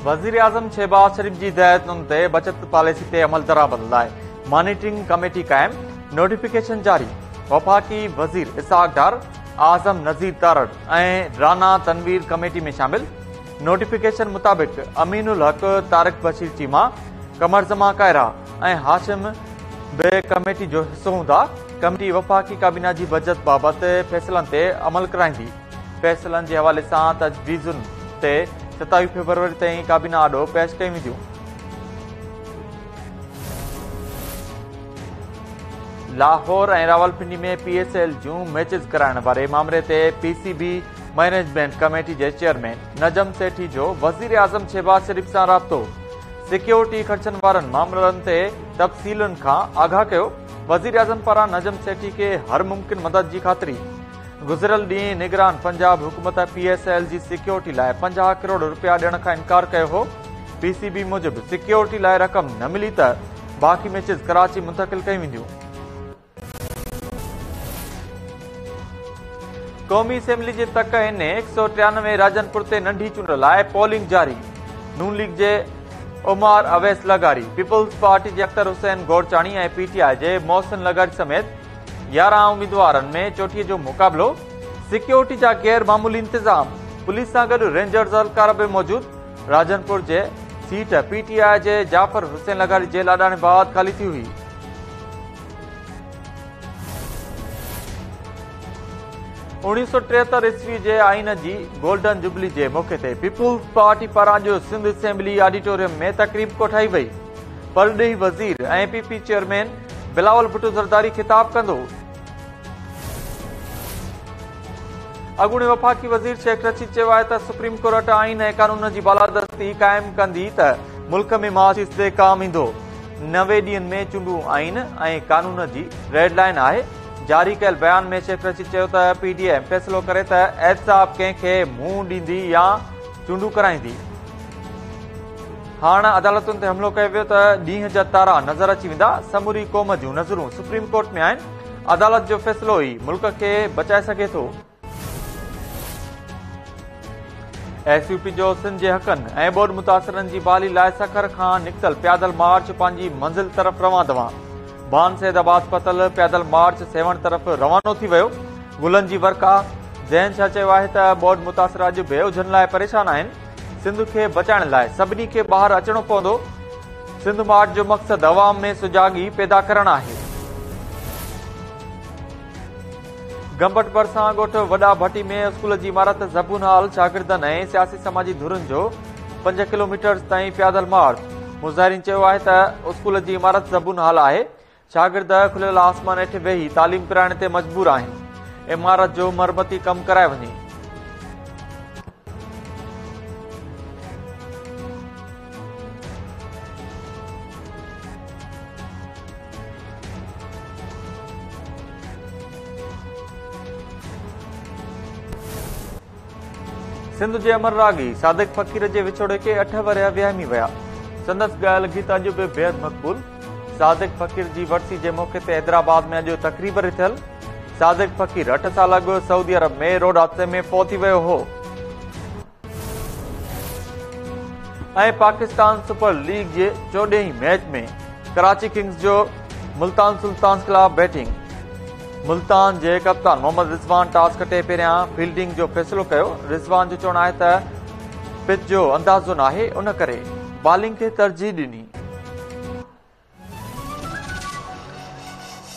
وزيراعظم شهباز شريف جي هدايتن تي بچت پاليسي تي عملدرآمد لاء مانيٽرنگ ڪميٽي قائم نوٽيفڪيشن جاري وفاقي وزير اسحاق ڊار اعظم نذير تارڙ ۽ رانا تنوير ڪميٽي ۾ شامل نوٽيفڪيشن مطابق امين الحق طارق بشير چيما قمرزما ڪائرا ۽ هاشم به ڪميٽي جو حصو هوندا ڪميٽي وفاقي ڪابينا جي بجيٽ بابت فيصلن تي عمل ڪرائيندي، فيصلن جي حوالي سان تجويزن تي ستاويهه فيبروري تائين ڪابينا آڏو پيش ڪيون وينديون. Lahore ۽ Rawalpindi ۾ P S L جون ميچز ڪرائڻ واري مامري تي P C B management committee جي چيئرمين نجم سيٺي جو وزيراعظم شهباز شريف سان رابطو، سيڪيورٽي خرچن وارن مامرن تي تفصيلن کان آگاهه ڪيو. وزيراعظم پاران نجم سيٺي کي هر ممڪن مدد جي خاطري گذريل ڏينهن نگران پنجاب حڪومت پي ايس ايل جي سيڪيورٽي لاء پنجاهه ڪروڙ روپيا ڏيڻ کان انڪار ڪيو هو پي سي بي موجب سيڪيورٽي لاء رقم نه ملي ته باقي ميچز ڪراچي منتقل ڪيون وينديون قومي اسيمبلي جي تڪ هن هڪ سؤ ٽيانوي راجن پور تي ننڍي چونڊ لاء پولنگ جاري نون ليگ جي عمر اويس لغاري، پيپلز پارٽي جي Akhtar Hussain Gorchani ۽ P T I جي محسن لغاري سميت يارهن اميدوارن ۾ چوٽي جو مقابلو، سيڪيورٽي جا غير معمولي انتظام، پوليس سان گڏ رينجرز اهلڪار به موجود، راجنپور جي سيٽ پي ٽي آء جي جعفر حسين لغاري جي لاڏاڻي بعد خالي ٿي هئي. اوڻيهه سؤ ٽيهتر عيسوي جي آئين جي گولڊن جوبلي جي موقعي تي پيپلز پارٽي پاران جو سنڌ اسيمبلي آڊيٽوريم ۾ تقريب ڪوٺائي وئي پرڏيهي وزير ۽ P P chairman Bilawal Bhutto Zardari خطاب ڪندو اڳوڻي وفاقي وزير شيخ رشيد چيو آهي ته سپريم ڪورٽ آئين ۽ قانون جي بالادستي قائم ڪندي ته ملڪ ۾ معاشي استحڪام ايندو نوي ڏينهن ۾ چونڊون آئين ۽ قانون جي ريڊ لائين آهي، جاري ڪيل بيان ۾ شيخ رشيد چيو ته پي ڊي ايم فيصلو ڪري ته احتساب ڪنهن کي منهن ڏيندي يا چونڊون ڪرائيندي. هاڻ عدالتن تي حملو ڪيو ويو ته ڏينهن جا تارا نظر اچي ويندا، سموري قوم جون نظرون سپريم ڪورٽ ۾ آهن، عدالت جو فيصلو ئي ملڪ کي بچائي سگهي ٿو. ايس يو پي جو سنڌ جي حقن ۽ ٻوڏ متاثرن جي بحالي لاء سکر کان نڪتل پيادل مارچ پنهنجي منزل طرف روان دوان بان سيد آباد پتل پيادل مارچ سيوهڻ طرف روانو ٿي ويو گلن جي ورکا جنهن ڇا چيو آهي ته ٻوڏ متاثر اڄ به اجهن لاء پريشان آهن سنڌ کي بچائڻ لاء سڀني کي ٻاهر اچڻو پوندو سنڌ مارچ جو مقصد عوام ۾ سجاڳي پيدا ڪرڻ آهي گمبٽ ڀرسان ڳوٺ وڏا ڀٽي ۾ اسڪول جي عمارت زبون هال شاگردن ۽ سياسي سماجي ڌرين جو پنج ڪلو ميٽرز تائين پيادل مارچ مظاهرين چيو آهي ته اسڪول جي عمارت زبون هال آهي شاگرد کليل آسمان هيٺ ويهي تعليم ڪرائڻ تي مجبور آهن عمارت جو مرمتي ڪم ڪرائي وڃي سنڌ جي امر راڳي صادق فقير جي وڇوڙي کي اٺ ورهيا ويهامي ويا سندس ڳايل گيت اڄ به بيحد مقبول صادق فقير جي ورسي جي موقعي تي حيدرآباد ۾ اڄ تقريب رٿيل صادق فقير اٺ سال اڳ سعودي عرب ۾ روڊ حادثي ۾ فوت ٿي ويو هو ۽ پاڪستان سپر ليگ جي چوڏهين ميچ ۾ ڪراچي ڪنگز جو ملتان سلطانز خلاف بيٽنگ ملتان جي ڪپتان محمد رضوان ٽاس کٽي پهريان فيلڊنگ جو فيصلو ڪيو رضوان جو چوڻ آهي ته پچ جو اندازو ناهي ان ڪري بالنگ کي ترجيح ڏني